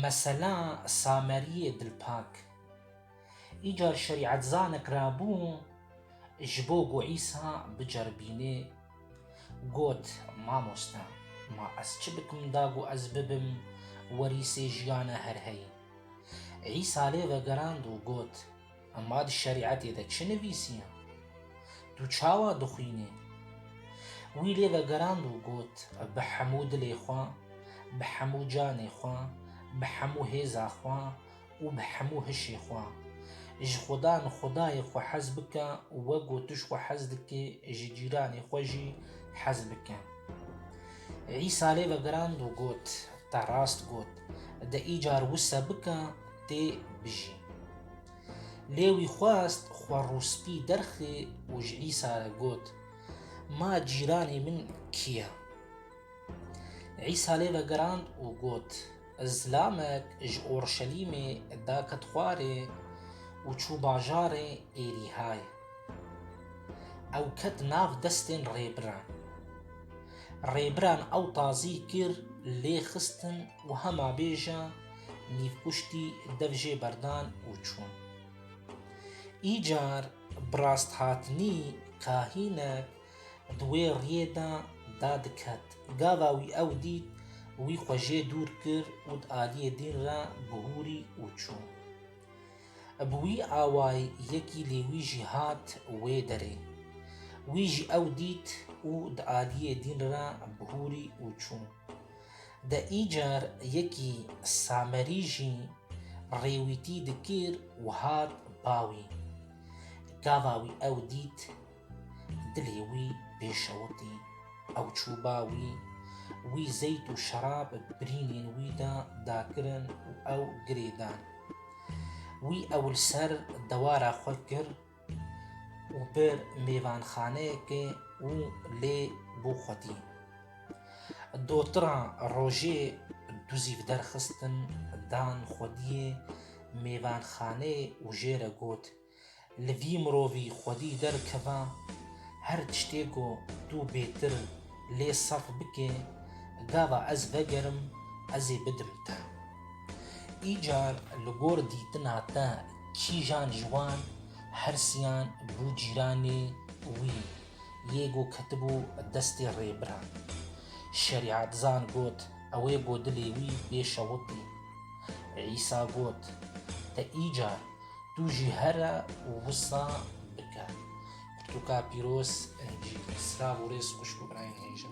Mesela Sameriyê Dilpak, îcar şerîetzanek re bû ji bo ku Îsa biceribînê, got, Mamoste, ma ez çi bikim da ku ez bibim werîsê jiyana her heyî? Îsa lê vegerand û got, Em ma di şerîetê de çi nivîsiya? Tu çawa dixwînî? Wî lê vegerand û got, Bi hemû dilê xwe, bi hemû canê xwe, bi hemû hêza xwe û bi hemû hişê xwe. Ji xwedan xwedayê xwe hez bike û wego tu ji xwe hez dikî ji cîranê xwe jî hez bike. Îsa lê vegerand û got, Te rast got, de îcar wisa bike, tê bijî. Lê wî xwest xwe rûspî derxî û ji Îsa re got, Ma cîranê min kî ye? Îsa lê vegirand û got, Zilamek ji Orşelîmê daket xwarê û çû bajarê Êrîhayê. Ew ket nav destên rêbiran. Rêbiran ew tazî kir, lê xistin û hema bêje nîvkuştî dev jê berdan û çûn. Îcar bi rasthatinî kahînek di wê riyê de da diket. Gava wî ew dît wî xwe jê dûr kir û di aliyê dîn re bihûrî û çû. Bi wî awayî yekî lê wî jî hat wê derê. Wî jî ew dît û di aliyê dîn re bihûrî û çû. De îcar yekî Samerî jî rêwîtî dikir û hat ba wî. Gava wî ew dît, dilê wî pê şewitî. Ew çû ba wî, wî zeyt û şerab birînên wî de da kirin û ew girê dan. Wî ew li ser dewara xwe kir, û pir mêvanxaneyekê û lê bo xwedî. Dotiran rojê du zîv derxistin dan xwediyê mêvanxaneyê û jê re got, Li vî mirovî xwedî derkeva, her tiştê ku tu bêtir lê saf bikê, gava ez vegerim, ez ê bidim te. Îcar li gor dîtina te kîjan ji wan hersiyan bû cîranê wî yê ku ketibû destê rêbiran? Şerîatzan got, Ew ê ku dilê wî bê şewitî. Îsa got, Te îcar, tu jî here wisa bike. Pirtûka Pîroz, Encîl. Selav û rêz xwişk û birayên hêja.